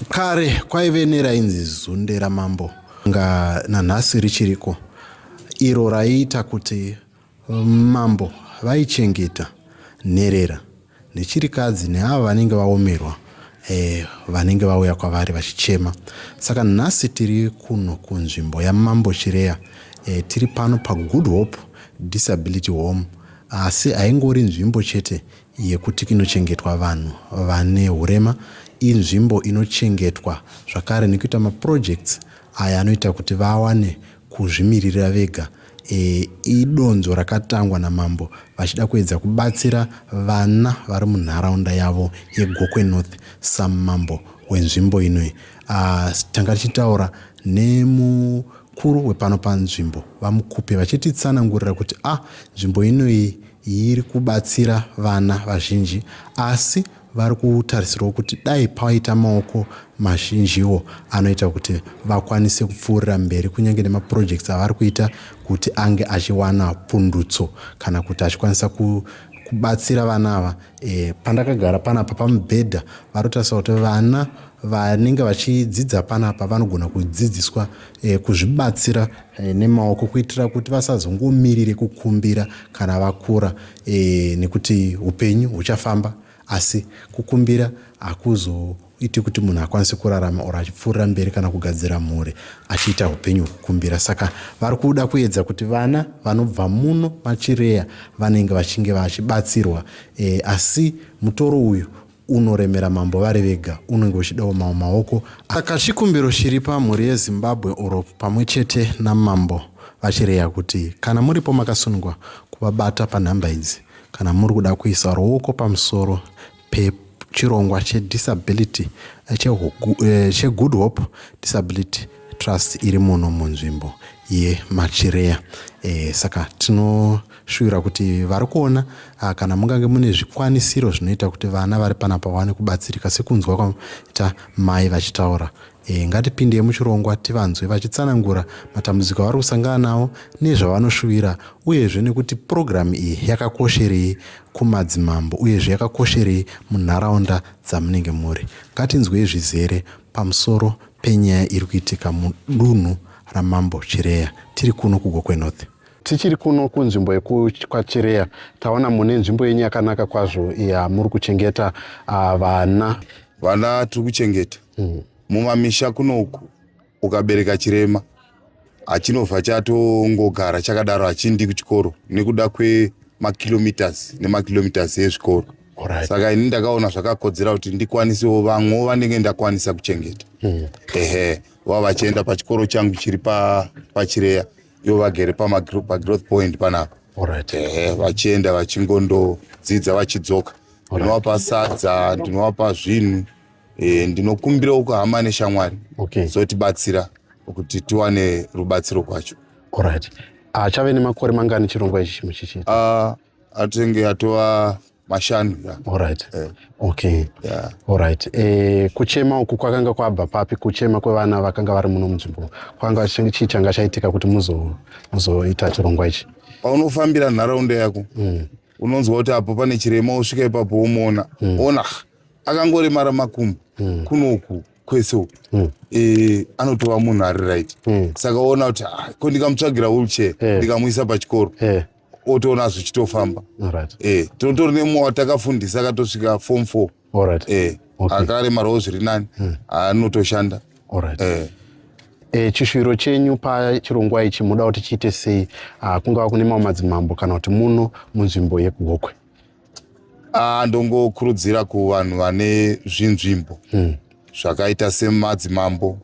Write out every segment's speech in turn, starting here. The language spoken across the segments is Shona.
Kare kwaive nerainzi zunde ramambo nga nanhasi richiriko iro raiita kuti mambo vaichengeta nherera nechirikadzi neavo vanenge vaomerwa eh, vanenge vauya kwavari vachichema saka nhasi tiri kuno kunzvimbo yamambo chireya eh, tiri pano pagood hope disability home asi haingori nzvimbo chete yekuti kinochengetwa vanhu vane hurema inzvimbo inochengetwa zvakare nekuita maprojects aya anoita kuti vawane kuzvimiririra vega e, idonzo rakatangwa namambo vachida kuedza kubatsira vana vari munharaunda yavo yegokwe north samambo wenzvimbo inoi uh, tanga tichitaura nemu Mukuru wepano panzvimbo, VaMukupe, vachititsanangurira kuti a nzvimbo inoyi iri kubatsira vana vazhinji asi vari kutarisirwa kuti dai paita maoko mazhinjiwo anoita kuti vakwanise kupfuurira mberi kunyange nemaprojects avari kuita kuti ange achiwana pundutso kana kuti achikwanisa ku kubatsira vana ava e, pandakagara panapa pamubhedha vanotarisa kuti vana Vanenge vachidzidza panapa vanogona kudzidziswa eh, kuzvibatsira eh, nemaoko kuitira kuti vasazongomirire kukumbira kana vakura eh, nekuti upenyu huchafamba asi kukumbira hakuzoiti kuti munhu akwanise kurarama or achipfuurira mberi kana kugadzira mhuri achiita upenyu hwekukumbira saka vari kuda kuedza kuti vana vanobva muno machireya vanenge vachinge vachibatsirwa e, asi mutoro uyu unoremera mambo vari vega unenge uchidawo mawo maoko aka chikumbiro chiri pamhuri yezimbabwe oro pamwe chete namambo vachireya kuti kana muripo makasunungwa kuvabata panhamba idzi kana muri kuda kuisa ruoko pamusoro pechirongwa chedisability eh, eh, chegood hope disability trust iri muno munzvimbo yemachireya e, eh, saka tino shuvira kuti vari kuona ah, kana mungange mune zvikwanisiro zvinoita kuti vana vari pana pawane kubatsirika sekunzwa kwaita mai vachitaura e, ngatipindei muchirongwa tivanzwe vachitsanangura matambudziko avari kusangana nawo nezvavanoshuvira uyezve nekuti purogiramu iyi yakakosherei kumadzimambo uyezve yakakosherei munharaunda dzamunenge muri ngatinzwei zvizere pamusoro penyaya iri kuitika mudunhu ramambo chireya tiri kuno kugokwenorth Tichiri kuno kunzvimbo yekwaChireya taona mune nzvimbo yenyu yakanaka kwazvo yamuri kuchengeta uh, vana. Vana tiri kuchengeta hmm. mumamisha mm. kuno uku ukabereka chirema hachinobva chatongogara chakadaro hachindi kuchikoro nekuda kwemakilometers nemakilometers ezvikoro right. saka ini ndakaona zvakakodzera kuti ndikwanisewo vamwewo vanenge ndakwanisa kuchengeta mm. ehe vava vachienda pachikoro changu chiri pachireya pa ivo vagere pamagrowth point panapa eh, vachienda vachingondodzidza vachidzoka ndinovapa sadza ndinovapa zvinhu eh, ndinokumbirawo kuhama neshamwari zotibatsira kuti tiwane rubatsiro kwacho achave nemakore mangani chirongwa ichi chimuchichii ah, atenge atova mashanu yeah. Alright. Yeah. Okay. Yeah. Alright. Eh, kuchema uku kwakanga kwabva papi kuchema kwevana vakanga vari muno munzvimbo kwanga chii changa chaitika kuti muzoita chirongwa ichi paunofambira nharaunda yako mm. unonzwa kuti apo pane chirema usvika ipapo womuona mm. ona akangoremara makumbo mm. kunoku kwese uku mm. e, anotova munhu ari right mm. saka ona kuti ah, ko ndikamutsvagira wheelchair yeah. ndikamuisa pachikoro yeah otoona zvichitofamba eh, tinotori nemumwe watakafundisa akatosvika form four eh, akaremarawo zviri nani hmm. anotoshanda eh. E, chishuwiro chenyu pachirongwa ichi muda kuti chiite sei ah, kungava kune mamwe madzimambo kana kuti muno munzvimbo yekugokwe ah, ndongokurudzira kuvanhu vane zvinzvimbo hmm. zvakaita semadzimambo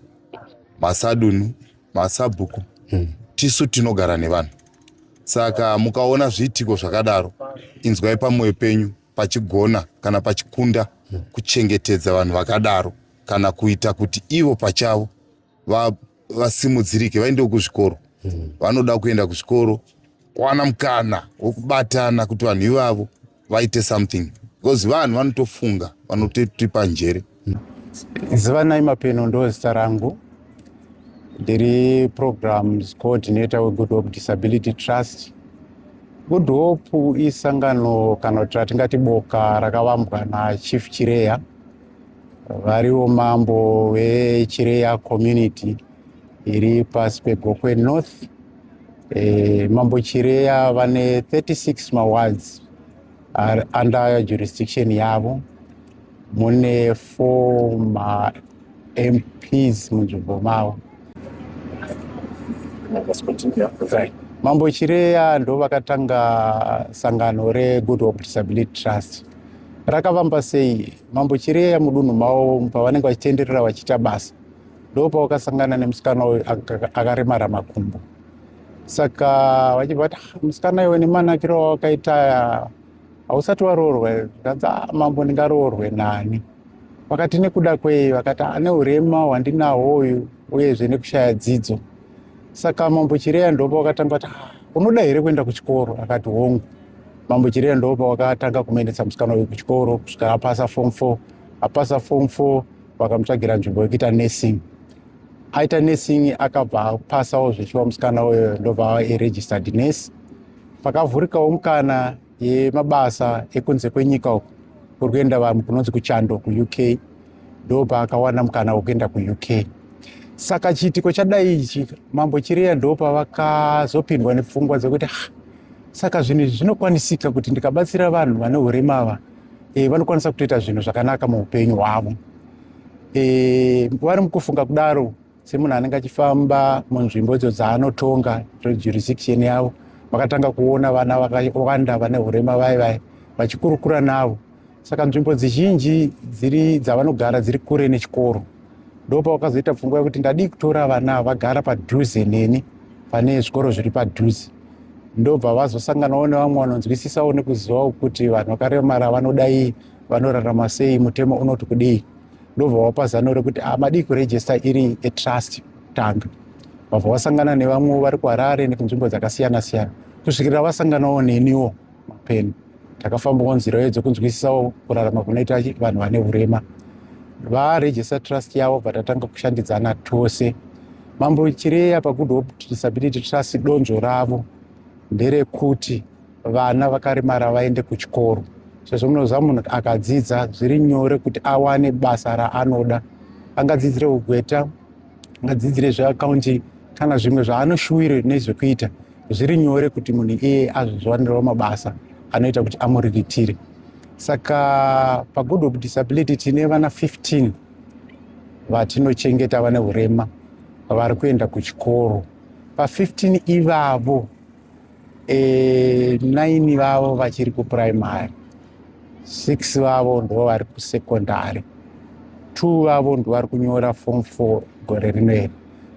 masadunhu masabhuku hmm. tisu tinogara nevanhu saka mukaona zviitiko zvakadaro inzwai pamwoyo penyu pachigona kana pachikunda kuchengetedza vanhu vakadaro kana kuita kuti ivo pachavo vasimudzirike va, vaendewo kuzvikoro vanoda kuenda kuzvikoro kwana mukana wokubatana kuti vanhu ivavo vaite something because vanhu vanotofunga vanototipa njere zivanai mapeno ndo zita rangu ndiri programs coordinator wegood hope disability trust good hope isangano kana kuti ratingati boka rakavambwa nachief chireya variwo mambo vechireya community iri pasi pegokwe north Eh, mambo chireya vane 36 mawards are under jurisdiction yavo mune four mamps munzvimbo mavo mambo chireya ndo vakatanga sangano regood hope disability trust rakavamba sei mambo chireya mudunhu mavo pavanenge vachitenderera vachiita basa ndopawakasangana nemusikana uyu akaremara makumbo saka vachibva vati ah, musikana iwe nemanakiro wawakaita hausati waroorwa zvikanzi ah, mambo ndingaroorwe nani vakati nekuda kwei vakati ane ah, urema hwandinawo uyu uyezve nekushaya dzidzo saka mambo chireya ndopa wakatanga kuti unoda here kuenda kuchikoro akati hongu mambo chireya ndopa wakatanga kumaendesa musikana uyu kuchikoro kusvika apasa fom four apasa fom four vakamutsvagira nzvimbo yekuita nursing aita nursing akabva apasawo zvechiwa musikana uyo ndobva aregistered nurse pakavhurikawo mukana yemabasa ekunze kwenyika uku kuri kuenda vanhu kunonzi kuchando kuuk ndopa akawana mukana wekuenda kuuk saka chiitiko chadai ichi mambo chiriya ndopa vakazopindwa nepfungwa dzekuti ah, saka zvinhu izvi zvinokwanisika kuti ndikabatsira vanhu vane urema ava e, vanokwanisa kutoita zvinhu zvakanaka muupenyu hwavo e, vari mukufunga kudaro semunhu anenge achifamba munzvimbo idzo dzaanotonga jurisdiction yavo vakatanga kuona vana vakawanda vane urema vai vai vachikurukura navo saka nzvimbo dzizhinji dziri dzavanogara dziri kure nechikoro ndopa wakazoita pfungwa yekuti ndadii kutora vana vagara padhuze neni pane zvikoro zviri padhuze ndobva vazosanganawo nevamwe vanonzwisisawo nekuzivawo kuti vanhu vakaremara vanodai vanorarama sei mutemo unoti kudii ndobva wapa zano rekuti ah, madii kurejista iri etrust tanga vabva vasangana nevamwe vari kuharare nekunzvimbo dzakasiyana siyana kusvikira vasanganawo neniwo mapeni takafambawo nzira iyo dzekunzwisisawo kurarama kunoita vanhu vane urema varegister trust yavo vatatanga kushandidzana tose mambo chireya pagood hope disability trust donzvo ravo nderekuti vana vakaremara vaende kuchikoro sezvo munoziva munhu akadzidza zviri nyore kuti awane basa raanoda angadzidzire ugweta angadzidzire zveaccounting kana zvimwe zvaanoshuwire nezvekuita zviri nyore kuti munhu iye azvizwanirwa mabasa anoita kuti amuriritire saka pagood of disability tine vana 15 vatinochengeta vane urema vari kuenda kuchikoro pa15 ivavo e, eh, 9 vavo vachiri kupuraimary 6 vavo ndo vari kusekondari 2 vavo ndo vari kunyora form 4 gore rinoeri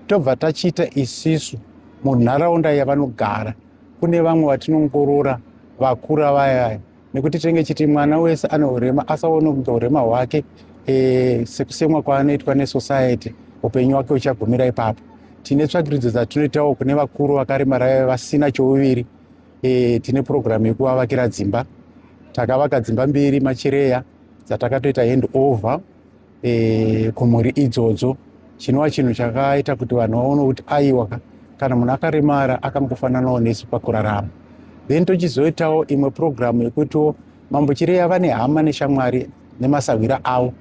tobva tachiita isisu munharaunda yavanogara kune vamwe vatinongorora vakura vayaya nekuti tinenge chiti mwana wese ane urema asaone kunge urema hwake e, sekusemwa kwaanoitwa nesociety upenyu wake uchagumira ipapo tine tsvakiridzo dzatinoitawo kune vakuru vakaremara vasina chouviri e, tine purogiramu yekuvavakira dzimba takavaka dzimba mbiri machireya dzatakatoita hand over e, kumhuri idzodzo chinova chinhu chakaita kuti vanhu vaone kuti aiwa kana munhu akaremara akangofananawo nesu pakurarama then tochizoitawo imwe purogiramu yekutiwo mambo chireya vane hama neshamwari nemasahwira avo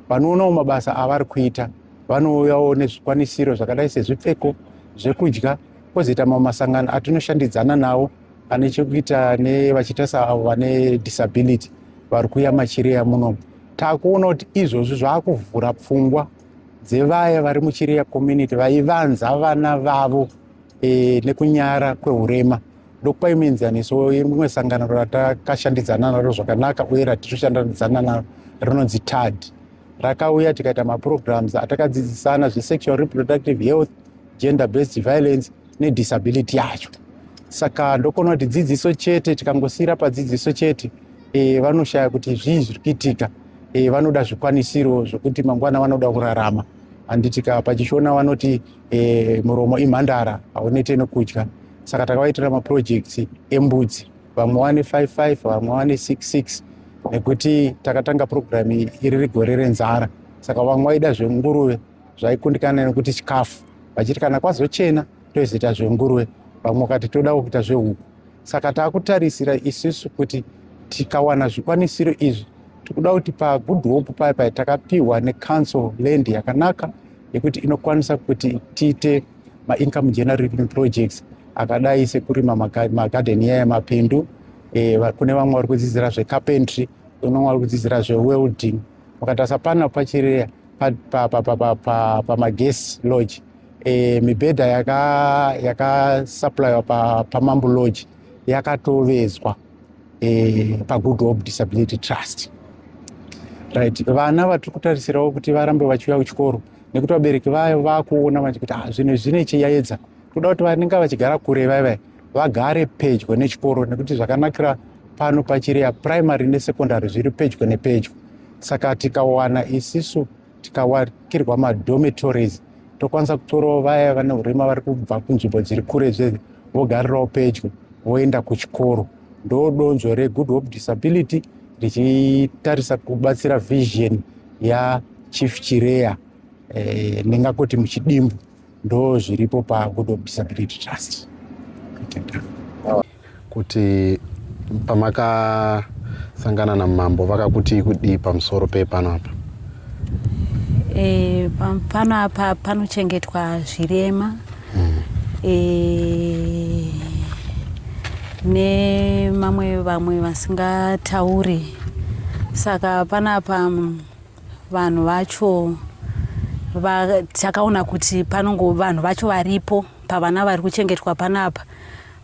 vanoonawo mabasa avari kuita vanouyawo nezvikwanisiro zvakadai sezvipfeko zvekudya kwozoita mamwe masangano atinoshandidzana nawo ane chekuita nevachita saavo vane disability vari kuya machireya munomu takuona kuti izvozvi zvaakuvhura pfungwa dzevaya vari muchireya community vaivanza vana vavo e, nekunyara kwehurema ndokupa imwe enzaniso imwe sangano ratakashandidzana naro zvakanaka uye ratichoshandidzana naro rinonzi tad rakauya tikaita maprograms atakadzidzisana zvesexual reproductive health gender based violence nedisability yacho saka ndokona kuti dzidziso chete tikangosiyira padzidziso chete e, vanoshaya kuti zvii zviri kuitika e, vanoda zvikwanisiro zvokuti mangwana vanoda kurarama handitika pachishona vanoti e, muromo imhandara haunete nokudya saka takavaitira maprojects embudzi vamwe wane 55 vamwe wane 66 nekuti takatanga purogiramu iri rigore renzara saka vamwe vaida zvenguruve zvaikundikana nekuti chikafu vachiti kana kwazochena tozoita zvenguruve vamwe kati todawo kuita zvehuku saka taakutarisira isusu kuti tikawana zvikwanisiro izvi tikuda kuti pagood hope paya paya takapiwa necouncil land yakanaka yekuti inokwanisa kuti tiite maincome generating projects akadai sekurima magadheni yaya mapindu e, kune vamwe vari kudzidzira zvecarpentry kune vamwe vari kudzidzira zvewelding mukatarisa pana pachireya pamagesi lodge e, mibhedha yakasupplyiwa yaka pamambo pa lodge yakatovezwa e, pagood hope disability trust right vana vatiri kutarisirawo kuti varambe vachiuya kuchikoro nekuti vabereki vayo vakuona vati kuti ah, zvinhu zvine chiyayedza toda kuti vanenge vachigara kure vaivai vagare pedyo nechikoro nekuti zvakanakira pano pachireya primary nesecondary zviri pedyo nepedyo saka tikawana isisu tikawakirwa madhomitories tokwanisa kutorawo vaya vane urema vari kubva kunzvimbo dziri kure zve vogarirawo pedyo voenda kuchikoro ndo donzvo regood hope disability richitarisa kubatsira vision yachief chireya eh, ndingakoti muchidimbu ndo zviripo pagood of disability trust kuti pamakasangana namambo vakakutii kudii pamusoro pepano apa e, pano apa panochengetwa zvirema mm. e, nemamwe vamwe vasingatauri saka panapa Vanhu vacho va, takaona kuti panongo vanhu vacho varipo pavana vari kuchengetwa panapa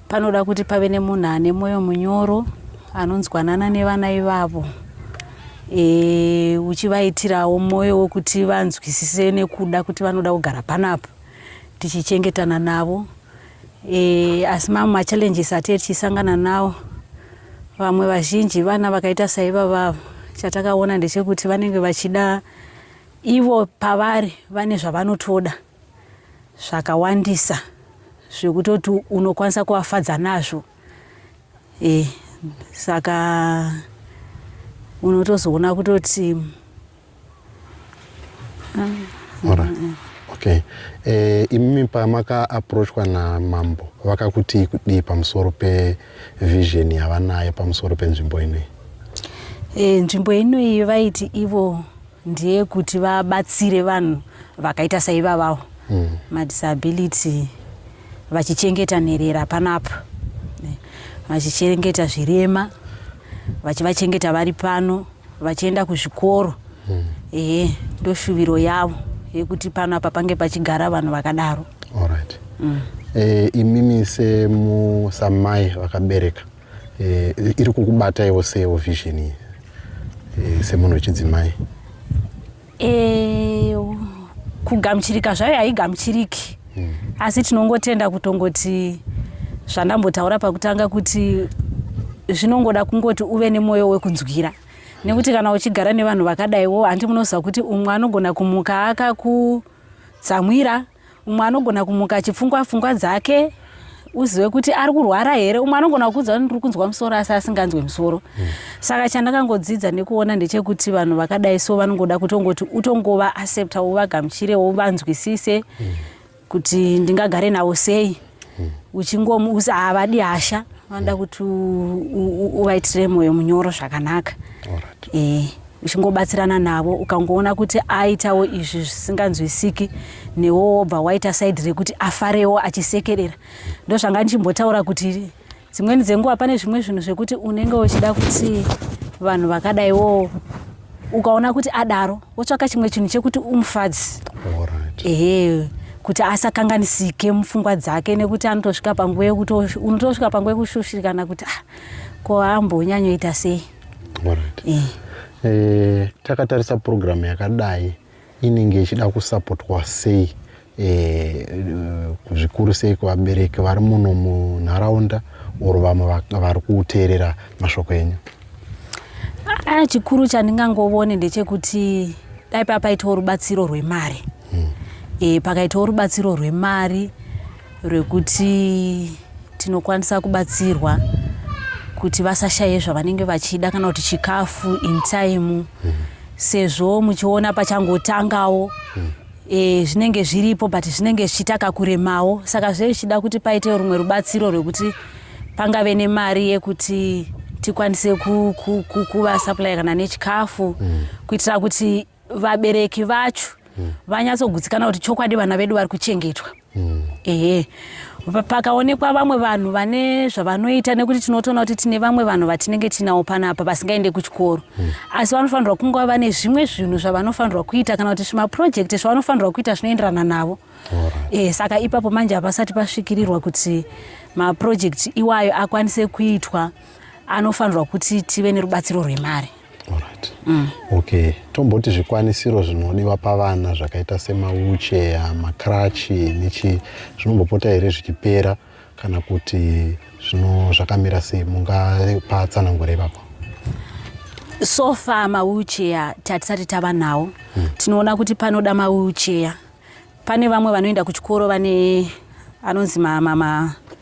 panoda kuti pave nemunhu ane mwoyo munyoro anonzwanana nevana ivavo e, uchivaitirawo mwoyo wekuti vanzwisise nekuda kuti vanoda kugara panapa tichichengetana navo E, asi mamwe machallenges atie tichisangana nawo vamwe vazhinji vana vakaita saivavavo chatakaona ndechekuti vanenge vachida ivo pavari vane zvavanotoda zvakawandisa zvekutoti unokwanisa kuvafadza nazvo e, saka unotozoona kutoti Ora. Okay. Eh, imimi pamaka approachwa na mambo vakakutii kudii pamusoro pe vision yavanayo pamusoro penzvimbo inoyi? Eh, nzvimbo inoyi vaiti ivo ndiye kuti vabatsire vanhu vakaita saivavawo mm. madisability vachichengeta nherera panapa eh, vachichengeta zvirema vachivachengeta vari pano vachienda kuzvikoro mm. ehe ndoshuviro yavo yekuti pano apa pange pachigara vanhu vakadaro right. mm. e, imimi semusamai vakabereka e, iri kukubataiwo sewo vision iyi e, semunhu wechidzimai Eh, kugamuchirika zvayo haigamuchiriki mm. asi tinongotenda kutongoti zvandambotaura pakutanga kuti zvinongoda kungoti uve nemwoyo wekunzwira nekuti kana uchigara nevanhu vakadaiwo handi munoziva kuti umwe anogona kumuka akakutsamwira umwe anogona kumuka achipfungwa pfungwa dzake uzive kuti ari kurwara here umwe anogona kukuudza kuti ndiri kunzwa musoro asi asinganzwe musoro mm. saka chandakangodzidza nekuona ndechekuti vanhu vakadai so vanongoda kutongoti utongova accepta uvagamuchire uvanzwisise mm. kuti ndingagare navo sei uchingomuuza havadi hasha vanoda kuti uvaitire moyo munyoro zvakanaka eh, uchingobatsirana navo ukangoona kuti aitawo izvi zvisinganzwisiki newo wobva waita saidi rekuti afarewo achisekerera ndozvanga ndichimbotaura kuti dzimweni dzenguva pane zvimwe zvinhu zvekuti unenge uchida kuti vanhu vakadai wo ukaona kuti adaro wotsvaka chimwe chinhu chekuti umufadzi ehe kuti asakanganisike mupfungwa dzake nekuti anotosvika panguva yekuti unotosvika panguva yekushushikana kuti ah, ko ambonyanyoita sei eh. eh, takatarisa purogiramu yakadai inenge ichida kusapotwa sei eh, zvikuru sei kuvabereki vari muno munharaunda or vamwe vari kuteerera mashoko enyu aya chikuru chandingangovone ndechekuti dai papaitawo rubatsiro rwemari hmm. e, pakaitawo rubatsiro rwemari rwekuti tinokwanisa kubatsirwa kuti vasashaye zvavanenge vachida kana kuti chikafu in time sezvo muchiona pachangotangawo e, zvinenge zviripo but zvinenge zvichitaka kuremawo saka zve zvichida kuti paite rumwe rubatsiro rwekuti pangave nemari yekuti tikwanise kuvasupplya kana nechikafu kuitira kuti vabereki vacho mm. vanyatsogutsikana kuti chokwadi vana vedu vari kuchengetwa mm. ehe pakaonekwa vamwe vanhu vane zvavanoita nekuti tinotoona kuti tine vamwe vanhu vatinenge tinawo panapa vasingaende kuchikoro mm. asi vanofanirwa kunge vane zvimwe zvinhu zvavanofanirwa kuita kana kuti zvimapurojekti zvavanofanirwa kuita zvinoenderana navo e, saka ipapo manje hapasati pasvikirirwa kuti mapurojekti iwayo akwanise kuitwa anofanirwa kuti tive nerubatsiro rwemari Alright. Mm. Okay. Tomboti zvikwanisiro zvinodiwa pavana zvakaita semawucheya, makrachi nechi zvinombopota here zvichipera kana kuti zvino zvakamira sei mungapa tsanangure ipapo? So far mawucheya tatisati tava nawo. Mm. Tinoona kuti panoda mawucheya. Pane vamwe vanoenda kuchikoro vane anonzi mama ma, ma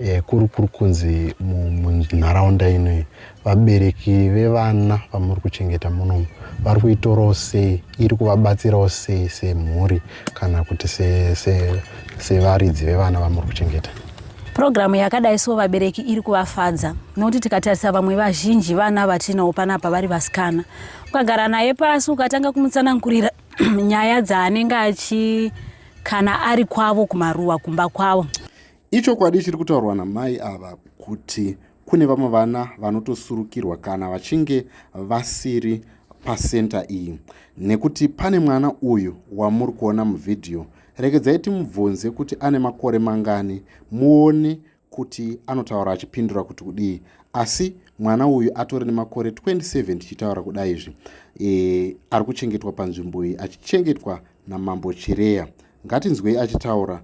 Eh, kuri kuri kunzi munharaunda inoyi vabereki vevana vamuri kuchengeta munomu vari kuitorawo sei iri kuvabatsirawo sei semhuri kana kuti sevaridzi vevana vamuri kuchengeta purogiramu yakadai so vabereki iri kuvafadza nokuti tikatarisa vamwe vazhinji vana vatinawo panapa vari vasikana ukagara naye pasi ukatanga kumutsanangurira nyaya dzaanenge achi kana ari kwavo kumaruwa kumba kwavo Ichokwadi chiri kutaurwa namai ava kuti kune vamwe vana vanotosurukirwa kana vachinge vasiri pasenta iyi nekuti pane mwana uyu wamuri kuona muvhidhiyo regedzai timubvunze kuti ane makore mangani muone kuti anotaura achipindura kuti kudii asi mwana uyu atori nemakore 27 tichitaura kudai izvi e, ari kuchengetwa panzvimbo iyi achichengetwa namambo chireya ngatinzwei achitaura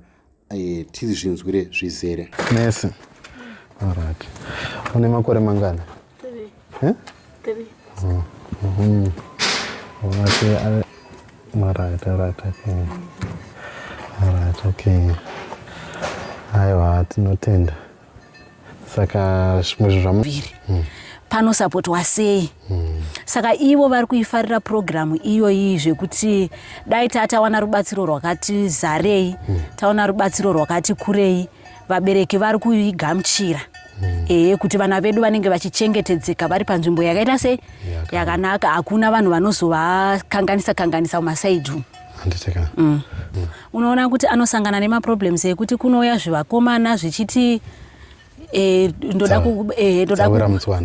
eh, tizvinzwire zvizere nurse alright une makore mangani eh? oh, mhm. alright alright okay alright okay aiwa tinotenda saka zvimwe zvinhu zvamu hmm. panosapotwa sei hmm. saka ivo vari kuifarira purogiramu iyoyi zvekuti dai taa tawana rubatsiro rwakati zarei hmm. tawana rubatsiro rwakati kurei vabereki vari kuigamuchira ee kuti vana vedu vanenge vachichengetedzeka vari panzvimbo yakaita sei yakanaka hakuna vanhu vanozovakanganisa kanganisa mumasaidhu yeah. handiti ka mm. mm. unoona kuti anosangana nemaproblems ekuti kunouya zvivakomana zvichiti eh, ndoda eh,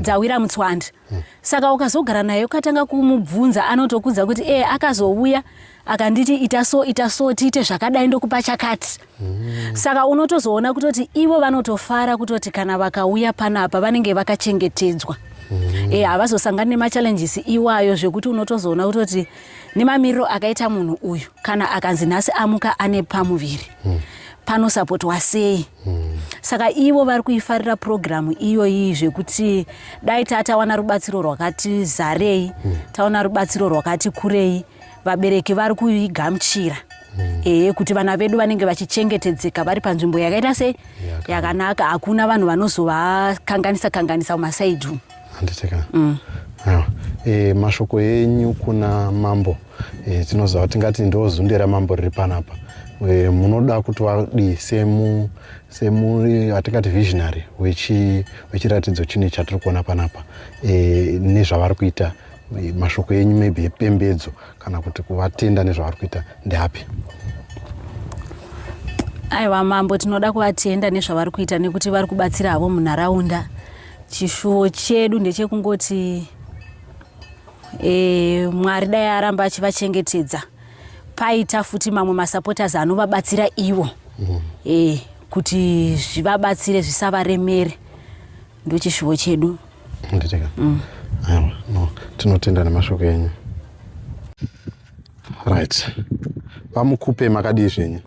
dzawira mutswandi mm. saka ukazogara naye ukatanga kumubvunza anotokudza kuti e akazouya akanditi ita so ita so tiite zvakadai ndokupa chakati Mm. Saka unotozoona kutoti ivo vanotofara kutoti kana vakauya panapa vanenge vakachengetedzwa. Mm. Eh havazosangani nemachallenges iwayo zvekuti unotozoona kutoti nemamiriro akaita munhu uyu kana akanzi nhasi amuka ane pamuviri. Mm. panosapotwa sei mm. saka ivo vari kuifarira purogiramu iyoyi zvekuti dai tatawana rubatsiro rwakati zarei mm. taona rubatsiro rwakati kurei vabereki vari kuigamuchira mm. ee kuti vana vedu vanenge vachichengetedzeka vari panzvimbo yakaita sei yakanaka hakuna vanhu vanozovakanganisa kanganisa mumasaidi umu handiteka mm. e, mashoko enyu kuna mambo e, tinoziva tingati ndozunde ramambo riri panapa e, munoda kuti vadii semu semuri atingati visionary wechiratidzo chine chatiri kuona panapa e, nezvavari kuita mashoko enyu maybe epembedzo kana kuti kuvatenda nezvavari kuita ndeapi aiwa mambo tinoda kuvatenda nezvavari kuita nekuti vari kubatsira havo munharaunda chishuwo chedu ndechekungoti e, mwari dai aramba achivachengetedza paita futi mamwe masupporters anovabatsira ivo mm. e, kuti zvivabatsire zvisavaremere ndochishuvo chedu nditeka mm. aiwa no tinotenda nemashoko enyu right vamukupe makadii zvenyu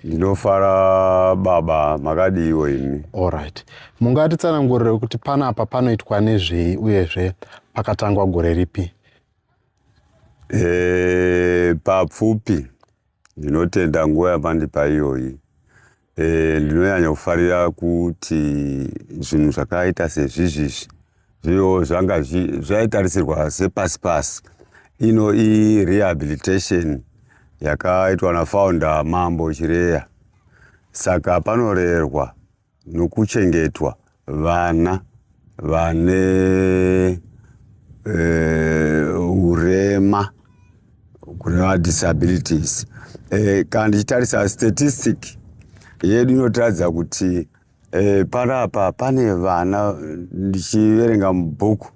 ndinofara baba makadiiwo imi allright mungatitsanangurire kuti panapa panoitwa nezvei uyezve pakatangwa gore ripi e, papfupi Ndinotenda nguva yamandipa iyoyi. E, ndinonyanya kufarira kuti zvinhu zvakaita sezvizvizvi zviyo zvanga zvaitarisirwa sepasi pasi ino irehabilitation yakaitwa nafounder mambo chireya saka panorerwa nokuchengetwa vana vane uh, urema kureva disabilities uh, kana ndichitarisa statistic yedu inotiratidza kuti uh, panapa pane vana ndichiverenga mubhuku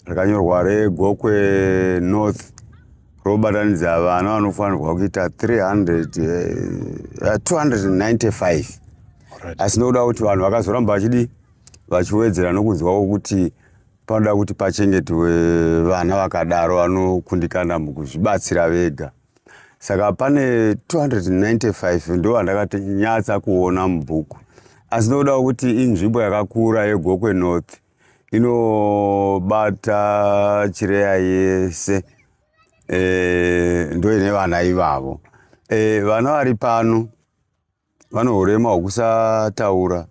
rakanyorwa regokwe north robatanidza vana vanofanirwa kuita 300 uh, 295 asi nokuda kuti vanhu vakazoramba vachidi vachiwedzera nokunzwawo kuti panoda kuti pachengetwe vana vakadaro vanokundikana mukuzvibatsira vega saka pane 295 ndo vandakatinyatsa kuona mubhuku asi nokuda kuti inzvimbo yakakura yegokwe north inobata chireya yese e, ndoine vana ivavo e, vana vari pano vane urema hwekusataura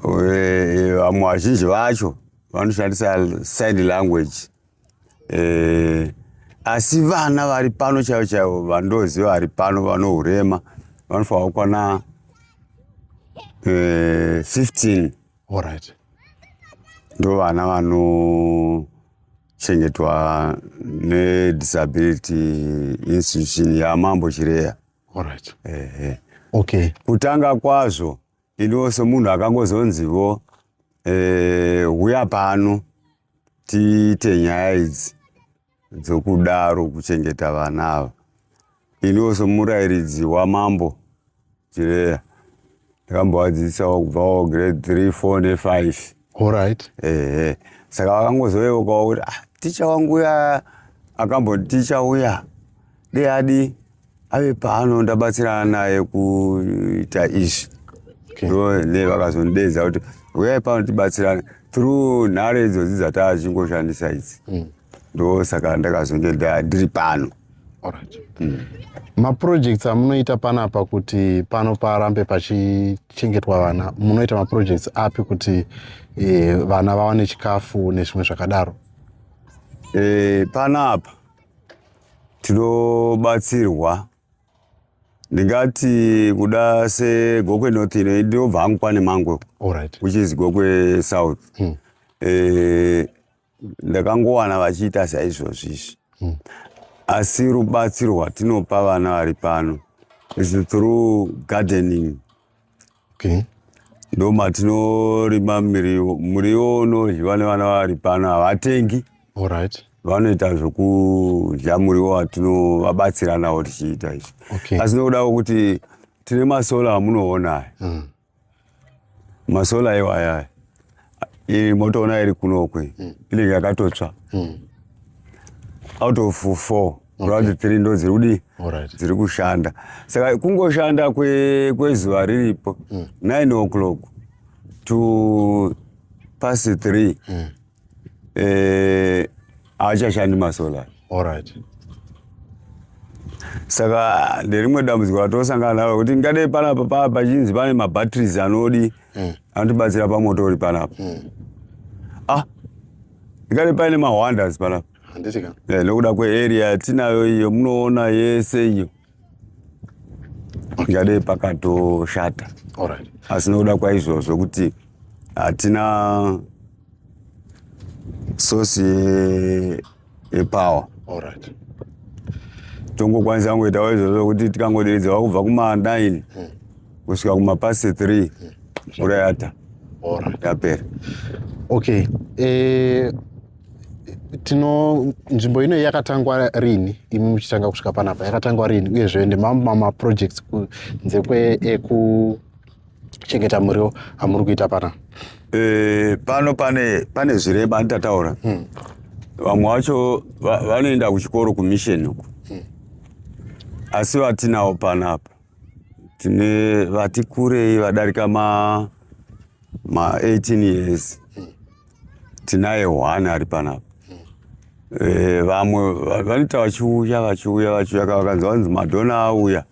eh, vamwe vazhinji vacho vanoshandisa sign language eh, asi vana vari pano chaivo chaivo vandoziva vari pano vane urema vanofanira kukwana 15 eh, ndo vana vano chengetwa nedisability institution yamambo chireya Alright. Ehe. Okay. Kutanga kwazvo iniwo semunhu akangozonzivo eh, huya pano tiite nyaya idzi dzokudaro kuchengeta vana ava. Iniwo semurairidzi wamambo Chireya ndakambovadzidzisawo kubvawo grade 3, 4 ne 5. Alright. Ehe. Saka vakangozoveukawo kuti ah, ticha wangu uya akamboti ticha uya dei adi ave pano ndabatsirana naye kuita izvi Okay. ndo ne vakazonidedza kuti uyai pano tibatsirane through nhare idzodzi dzataa chingoshandisa idzi ndo saka ndakazonge nda- ndiri pano Alright. Mm. Maprojects amunoita panapa kuti pano parambe pachichengetwa vana munoita maprojects api kuti e, vana vawane chikafu nezvimwe zvakadaro? E, panapa tinobatsirwa ndingati kuda segokwe north ino ndinobva hangu kwane mangwe right. which is gokwe south mm. e, ndakangowana vachiita saizvozvi izvi hmm. asi rubatsiro rwatinopa vana vari pano is through gardening okay. ndo matinorima muriwo muriwo unodyiwa nevana vari pano havatengi right. vanoita zvokudya muriwo watinovabatsira nawo tichiita izvi okay. asi nokudawo kuti tine masola amunoona aya mm. masola iwaya iyi motoona iri kunokwe mm. inenge yakatotsva mm. out of four kurati three ndo dziri kudii dziri kushanda saka kungoshanda kwezuva kwe riripo mm. nine o'clock to pasi three mm. eh, haachashandi masolar alright saka nderimwe dambudziko ratosangana naro kuti ngadei panapa pachinzi pane mabatteries anodi mm. anotibatsira pamoto uri panapa mm. ah ngadei paine mawonders panapa eh, nokuda kwearea yatinayo iyo munoona yese iyo ndingadei pakatoshata asi nokuda kwaizvozvo kuti hatina sosi yepower tongokwanisa kungoitawo izvozvo kuti tikangoderedzewa kubva kuma9 hmm. kusvika kumapasi 3 hmm. mvura yata yapera okay eh, tino nzvimbo ino yakatangwa rini imi muchitanga kusvika panapa yakatangwa rini uyezve nemamwe mamaprojects kunze kwekuchengeta muriwo amuri kuita pana e, pano pane pane zvirema anditataura hmm. vamwe vacho vanoenda kuchikoro kumission uku hmm. asi vatinawo panapa tine vati kurei vadarika ma ma 18 years tinaye one ari panapa eh, vamwe vanoita vachiuya vachiuya vachiuya ka vakanzi vanzi madhona auya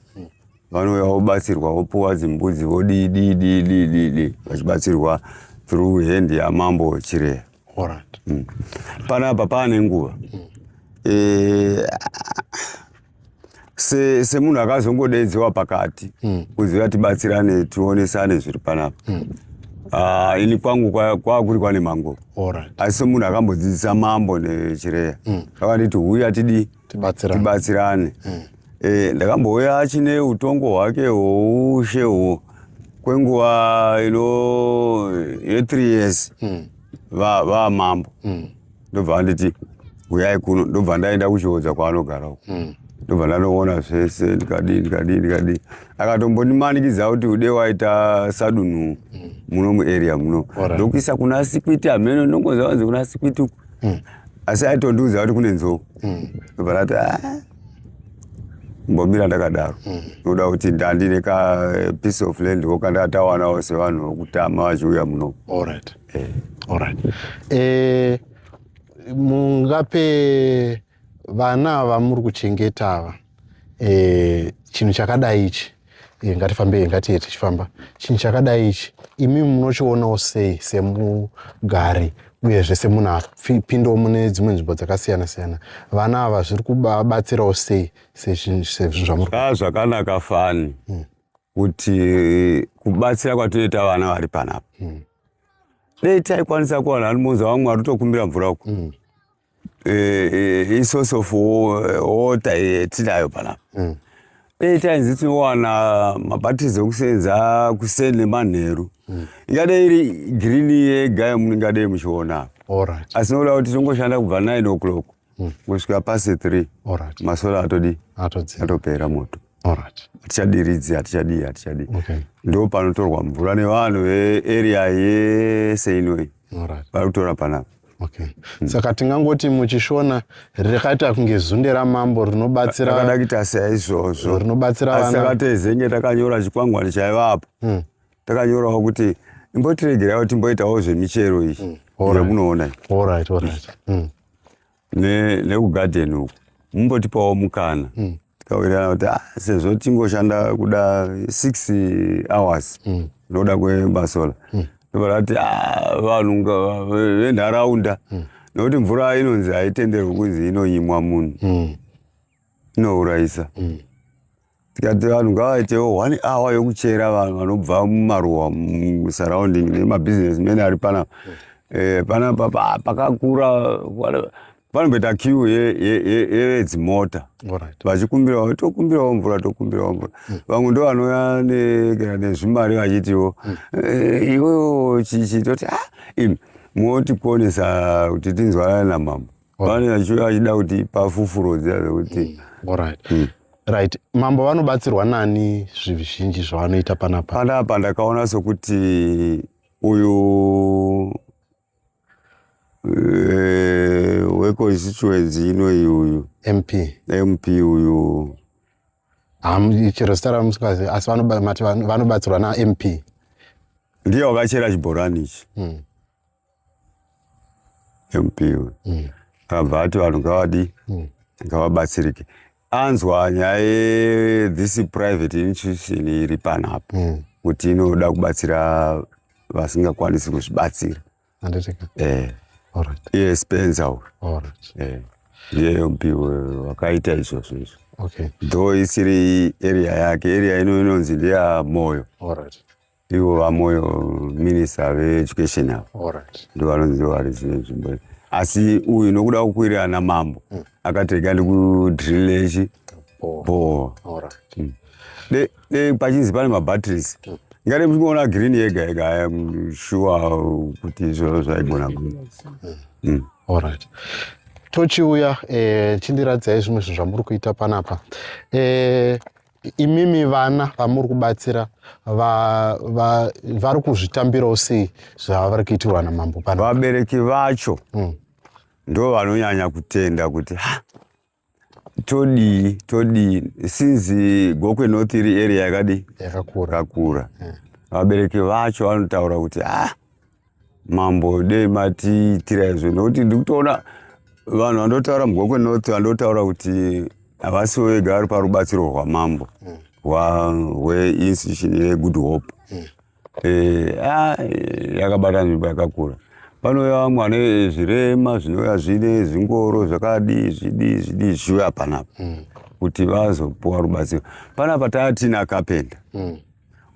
vanouya vobatsirwa vopuwa dzimbudzi vodii dii dii dii dii dii vachibatsirwa through hand yamambo chireya mm. panapa paane nguva mm. eh, se semunhu akazongodeedziwa pakati mm. kuziva tibatsirane tionesane zviri panapa mm. uh, ini kwangu kwakuri kwa kwanemango right. asi semunhu akambodzidzisa mambo nechireya mm. akanditi huya tidi tibatsirane mm. e, ndakambouya achine utongo hwake hwoushe hwo kwenguva ino yethree years mm. vamambo va, va, mm. ndobva anditi huyai kuno ndobva ndaenda kuchiodza kwaanogara uko hmm. ndobva ndanoona zvese ndikadii ndikadii ndikadii akatombondimanikidza kuti ude waita sadunhu hmm. muno muarea muno ndokuisa kuna sikwiti hameno ndongonza wanzi kuna sikwiti uku hmm. asi aitondiudza kuti kune nzou ndobva ndati ah, mbomira ndakadaro noda hmm. kuti ndandine ka eh, piece of land wo kandakatawanawo sevanhu vokutama vachiuya muno Eh, all right. Eh, mungape vana ava muri kuchengeta ava eh, chinhu chakadai ichi eh, ngatifambei ngatiye tichifamba chinhu chakadai ichi imi munochionawo sei semugari uyezve semunhu apindawo mune dzimwe nzvimbo dzakasiyana siyana vana ava zviri kubatsirawo sei sezvinhu zvamuri ah, zvakanaka fani hmm. kuti kubatsira kwatoita vana vari panapa mm. dei taikwanisa kuwana ari munzi wamwe ari kutokumbira mvura uku mm. e, e, isource of water yetinayo panapa mm. dei tainzi tinowana mabatizo ekusenza kuseni nemanheru mm. ingadei iri girini yega yamunengadei muchiona asi nokuda kuti tinongoshanda kubva 9 o'clock mm. kusvika pasi three right. masola atodi atopera moto right. hatichadiridzi hatichadii hatichadii okay. ndo panotorwa mvura nevanhu vearea yese inoi right. vari kutora panapa okay. mm. saka tingangoti muchishona rakaita kunge zunde ramambo rinobatsira akadakita saizvozvo rinobatsira asi akatezenge takanyora chikwangwani chaivapo mm. takanyorawo kuti imbotiregeraiwo timboitawo zvemichero iyi mm. All right. All right, all right. Mm. nekugarden ne uku mumbotipawo mukana mm. tikawirirana kuti ah, sezvo tingoshanda kuda six hours mm. ndoda kwemasola mm. ndobarati ah, vanhu venharaunda mm. nokuti mvura inonzi haitenderwi kunzi inonyimwa munhu mm. inourayisa mm. Tikati vanhu ngavaitewo one hour yokuchera vanhu vanobva mumaruwa musurrounding nemabusiness mene ari pana eh, pana pakakura panomboita kiu yevedzimota vachikumbirawo tokumbirawo mvura tokumbirawo mvura hmm. vamwe ndo vanouya nezvimari vachitiwo hmm. eh, iwewo chichi toti ah, moti kuonesa kuti tinzwanana namambo vane achida kuti pafufurodzi ave kuti mm, right mm. right mambo vanobatsirwa nani zvizhinji zvavanoita panapa panapa ndakaona sokuti uyu eh, weconstituency inoyi uyu mp mp uyu chero zita ramusikazi asi vanobatsirwa namp ndiye wakachera chibhorani ichi mm. Yompiwe mm. akabva ati vanhu ngavadi mm. ngavabatsirike anzwa nyaya ye this private institution iri panapa mm. kuti inoda kubatsira vasingakwanisi kuzvibatsira eh. iye spenza uyu eh. ndiye yompiwe wakaita izvozvo izvo okay. though isiri area yake area ino inonzi ndeya moyo All right. ivo vamoyo minista veeducation avo ndivanonzi varizive nzvimbo iyi asi uyu nokuda kukwirira namambo mm. akati rega ndikudrillechi bhoo mm. pachinzi pane mabatteries mm. ngati muchingoona green yega yega iam mm, sure kuti izvozvo zvaigona mm. allright tochiuya eh, chindiradziai zvimwe zvinhu zvamuri kuita panapa eh, imimi vana vamuri kubatsira vari kuzvitambirawo sei zvavari kuitirwa namambo pano vabereki vacho mm. ndo vanonyanya kutenda kuti ha todii todii sinzi gokwe north iri area yakadii yakakura yeah. vabereki vacho vanotaura kuti ha ah, mambo dei matiitira izvo nokuti ndikutoona vanhu vandotaura mugoko kwenorth vandotaura kuti havasi vega vari parubatsiro rwamambo hweinstitution hmm. yegood hope hmm. eh, ah, yakabata nzvimbo yakakura panouya vamwe vane zvirema zvinouya zvine zvingoro zvakadii zvidii zvidii zvichiuya panapa hmm. kuti vazopuwa rubatsiro panapa taatina kapenda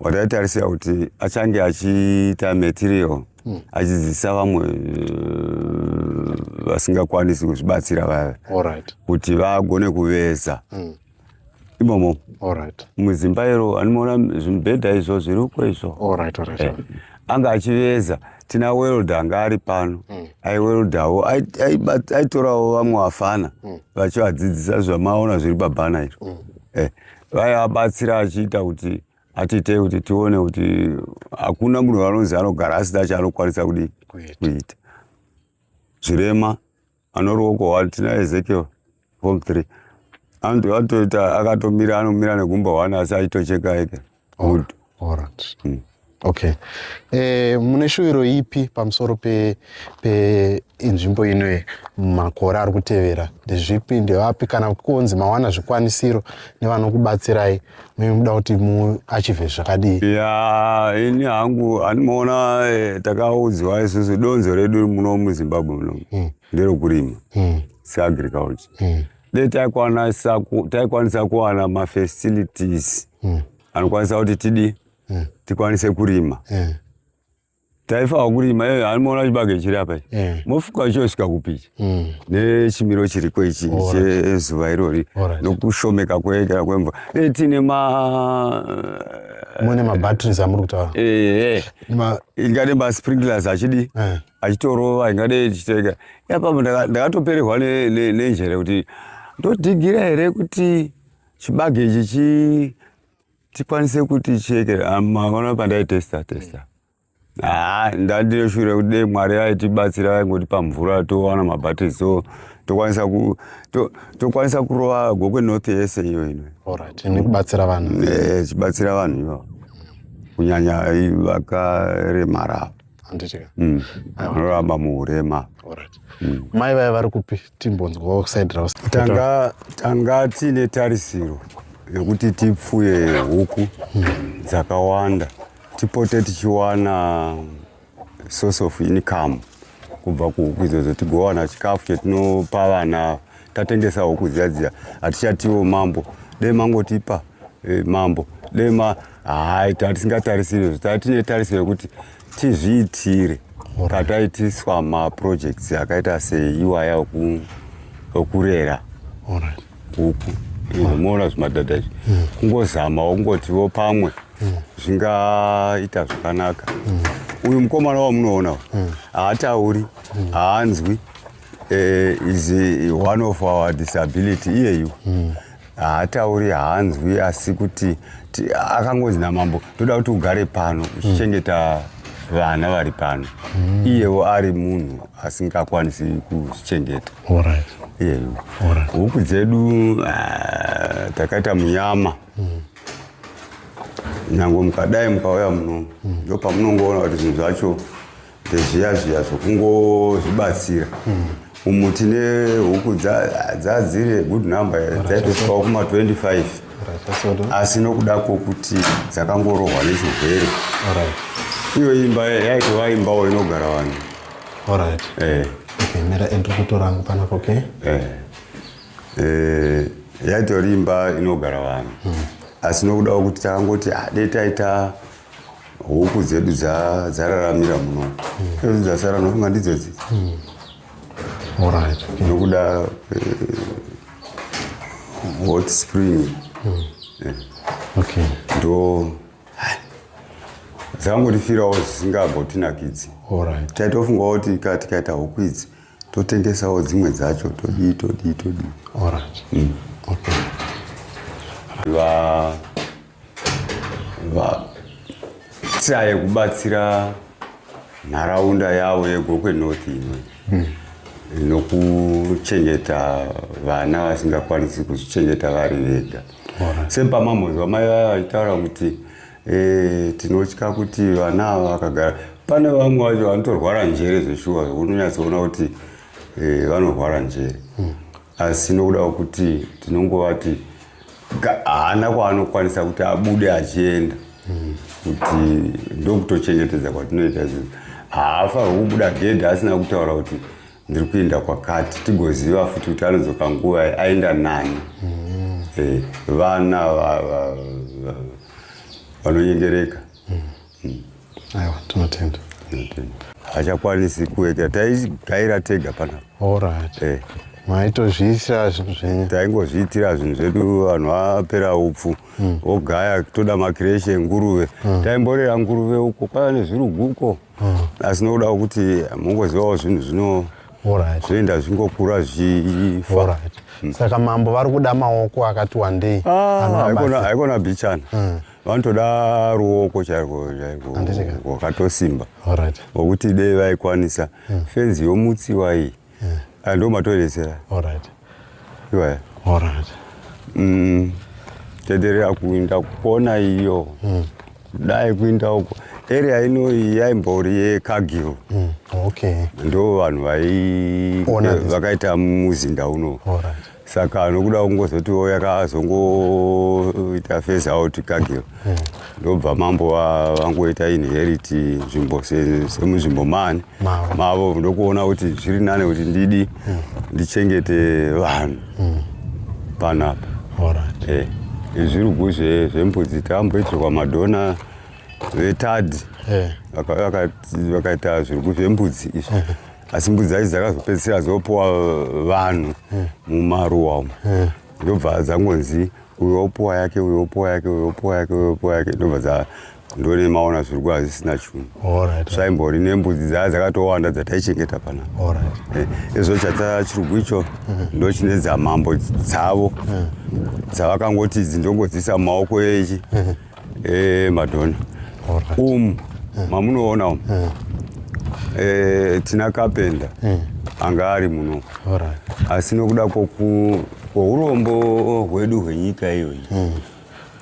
wataitarisira kuti achange achiita material hmm. achidzidzisa vamwe eh, vasingakwanisi kuzvibatsira vaya kuti vagone kuveza hmm. imomo muzimba iro animoona zvimibhedha izvo zviriko izvo eh, anga achiveza tina welda anga ari pano hmm. aiweldawo aitorawo vamwe vafana vachivadzidzisa zvamaona zviri pabhana iro eh, vaiabatsira achiita kuti atiitei kuti tione kuti hakuna munhu vanonzi anogara asina chaanokwanisa kudii kuita zvirema anoruoko one tina ezekiel form three anotoita akatomira anomira negumba one asi aitocheka eke oh. Alright. Mm. Okay. E, mune shuviro ipi pamusoro pe, pe inzvimbo ino makore ari kutevera ndezvipi ndevapi kana kunzi mawana zvikwanisiro nevanokubatsirai muda kuti muachive zvakadii ya ini hangu handimoona eh, takaudzwa isusu donzo redu muno muzimbabwe muno mm. nderokurima mm. seagriculture mm. de taikwanisa kuwana mafacilities mm. anokwanisa kuti tidi eh. tikwanise kurima eh. taifawa kurima iyoyo anomaona chibage chiri apa eh. mofuka chosvika kupichi mm. nechimiro chiriko ichi chezuva irori nokushomeka kuekera kwemvura dei tiine ma mune mabatteries amuri kutaura ingade masprinklers achidi achitorova ingade ichiteka iapamo ndakatoperehwa nenjere kuti ndodhigira here kuti chibage ichi chi tikwanise kuti cheke ah, maona pandaitesta testa haa ah, ndandine shure kuti dei mwari aitibatsira aingotipa mvura towana mabatiri so tokwanisa ku to, tokwanisa kurova gokwe north yese iyo ino alright nekubatsira vanhu eh chibatsira vanhu iyo kunyanya vakaremara handiti ka mm. anoramba muurema mm. mai vaya vari kupi timbonzwawo side ravo tanga tanga tiine tarisiro yekuti tipfuye huku dzakawanda tipote tichiwana source of income kubva kuhuku idzodzo tigowana chikafu chetinopa vana tatengesa huku dziya dziya hatichatiwo mambo dei mangotipa e, mambo dei ma hai tatisingatarisiri izvo tatine tarisiro yekuti tizviitire kataitiswa maprojects akaita seiwaya okurera huku moona zvimadhadha izvi hmm. kungozamawo kungotiwo pamwe hmm. zvingaita zvakanaka hmm. uyu mukomana wamunoona haatauri haanzwi eh, is one of our disability iyeyu mm. haatauri hanzwi asi kuti akangonzi namambo toda kuti ugare pano uchichengeta mm. vana vari pano mm. iyewo ari munhu asingakwanisi kuchengeta right. iyeyu right. huku dzedu uh, takaita munyama mm. nyange mukadai mukauya muno mm. ndopamunongoona kuti zvinhu zvacho Zviya zviya zvokungozvibatsira umu tine huku dzadziri good number dzaitosvikawo kuma 25 asi nokuda kwokuti dzakangorohwa nechirwere iyo imba yaitova imbawo inogara vanhu orit eh. okay, mira endri kutora angu panapo ok eh. eh, yaitori imba inogara vanhu hmm. asi nokuda kwokuti takangoti ah, dei taita huku dzedu dzararamira muno hmm. edu dzasara nofunga ndidzodzi hmm. nokuda eh, hot spring hmm. eh. ndo dzakangotifirawo dzisingambotinakidzi taitofungawo kuti ka tikaita huku idzi totengesawo dzimwe dzacho todii todii todii vatsaye kubatsira nharaunda yavo yegokwe north imwe hmm. nokuchengeta vana vasingakwanisi kuzvichengeta vari vega sepamamhozwa mai vaya vaitaura kuti eh, tinotya kuti vana ava vakagara pane vamwe vacho vanotorwara njere zveshuwa unonyatsoona kuti eh, vanorwara njere hmm. asi nokuda kwekuti tinongovati haana kwaanokwanisa kuti abude achienda hmm. kuti ndokutochengetedza kwatinoita izvozvo haafa hwekubuda gedhi asina kutaura kuti ndiri kuenda kwakati tigoziva futi kuti anodzoka nguva ye aenda nani mm. eh, vana vanonyengereka mm. hmm. aiwa tinotenda hachakwanisi kuita taigaira tega pana orit eh. maitozviitira zvinhu zvenyu taingozviitira zvinhu zvedu vanhu vapera upfu hmm. ogaya toda makireshe nguruve hmm. taimborera nguruve uko kwava nezvirugu uko hmm. asi nokuda kuti mungozivawo zvinhu zvino zvoenda zvingokura zvifa saka mambo vari kuda maoko akati wandei ah, haikona bichana vanotoda ruoko chairwo chairwo wakatosimba wokuti dei vaikwanisa hmm. fenzi yomutsiwa iyi hmm. ah, ndo matoresera iwaya mm, tederera kuinda kukona iyo hmm. dai kuinda uko area ino yaimbori yekagil ndo vanhu vakaita muzinda uno saka nokuda kungozoti wo yakazongoita face out kagiro hmm. ndobva mambo vangoita inherit nzvimbo semunzvimbo mani mavo ndokuona kuti zviri nane kuti ndidi hmm. ndichengete vanhu hmm. panapa eh, zvirugu zvembudzi tamboitirwa madhona vetadi eh. vakaita zvirugu zvembudzi izvi asi mbudzi dzacho dzakazopedzisira dzopuwa vanhu hmm. mumaruwa umo hmm. ndobva dzangonzi uyo opuwa yake uyo opuwa yake uyo opuwa yake uyo opuwa yake ndobva dza ndone maona zviri kuva zvisina chunhu zvaimbori nembudzi dzaa dzakatowanda dzataichengeta pana eh, izvo chatsa chirugu icho hmm. ndochine dzamambo dzavo dzavakangoti idzi ndongodziisa mumaoko echi Eh, madhona umu eh. mamunoona umu eh. eh, tina kapenda anga ari muno asi nokuda kwourombo hwedu hwenyika iyoyi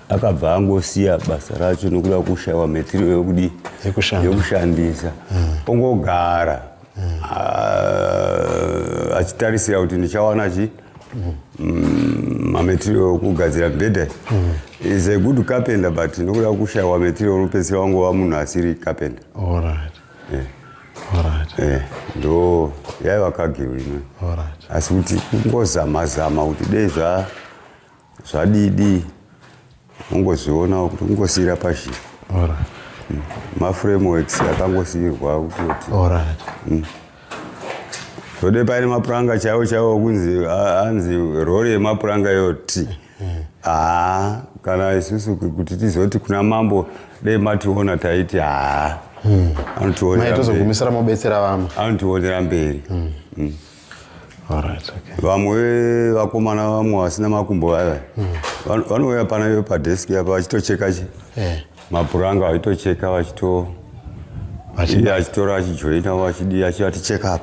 akabva angosiya basa racho nokuda kushaiwa metirio yokudii yokushandisa ongogara ah, achitarisira kuti ndichawana chii mm, mametiro okugadzira mibhedha mm. is a good carpenter but nokuda kushaiwa metiro unopedzisira wangova munhu asiri carpenter eh, ndo yaiva kagiro ino asi kuti kungozama zama kuti dei zva Zvadidi ungozvionawo kuti ungosiira pashi. Alright. Mm. Ma frameworks akangosiirwa kuti. Alright. Mm. Zvode paine mapuranga chaiwo chaiwo kunzi anzi rori yemapuranga yoti. Ah, kana isusu kuti tizoti kuna mambo dai mationa taiti ah. Mm. Anotionera. Maitozogumisira mobetsera vamwe. Anotionera mberi. Mm. Mm. Alright, okay. vamwe vakomana vamwe vasina makumbo vaya vano- vanouya pana iwe padesk apa vachitocheka chi- Eh, mapuranga vachitocheka vachito Vachi- iye achitora achijoina vachidii achivati check up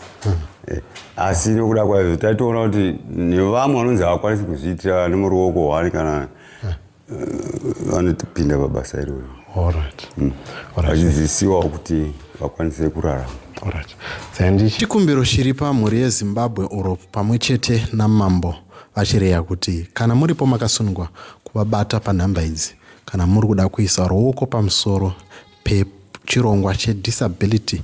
Eh, asi nokuda kwaizvo taitoona kuti nevamwe vanonzi havakwanisi kuzviitira nemuruoko hwani kana vanotipinda pabasa iroro mm. vachidzidzisiwawo kuti vakwanise kurarama chikumbiro chiri pamhuri yezimbabwe uro pamwe chete namambo vachireya kuti kana muripo makasunungwa kuvabata panhamba idzi kana muri kuda kuisa ruoko pamusoro pechirongwa chedisability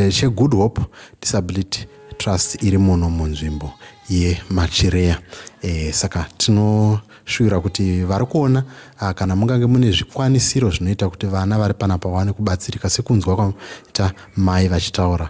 chegood hope disability trust iri muno munzvimbo yemachireya e, saka tinoshuvira kuti vari kuona ah, kana mungange mune zvikwanisiro zvinoita kuti vana vari panapa vawane kubatsirika sekunzwa kwaita mai vachitaura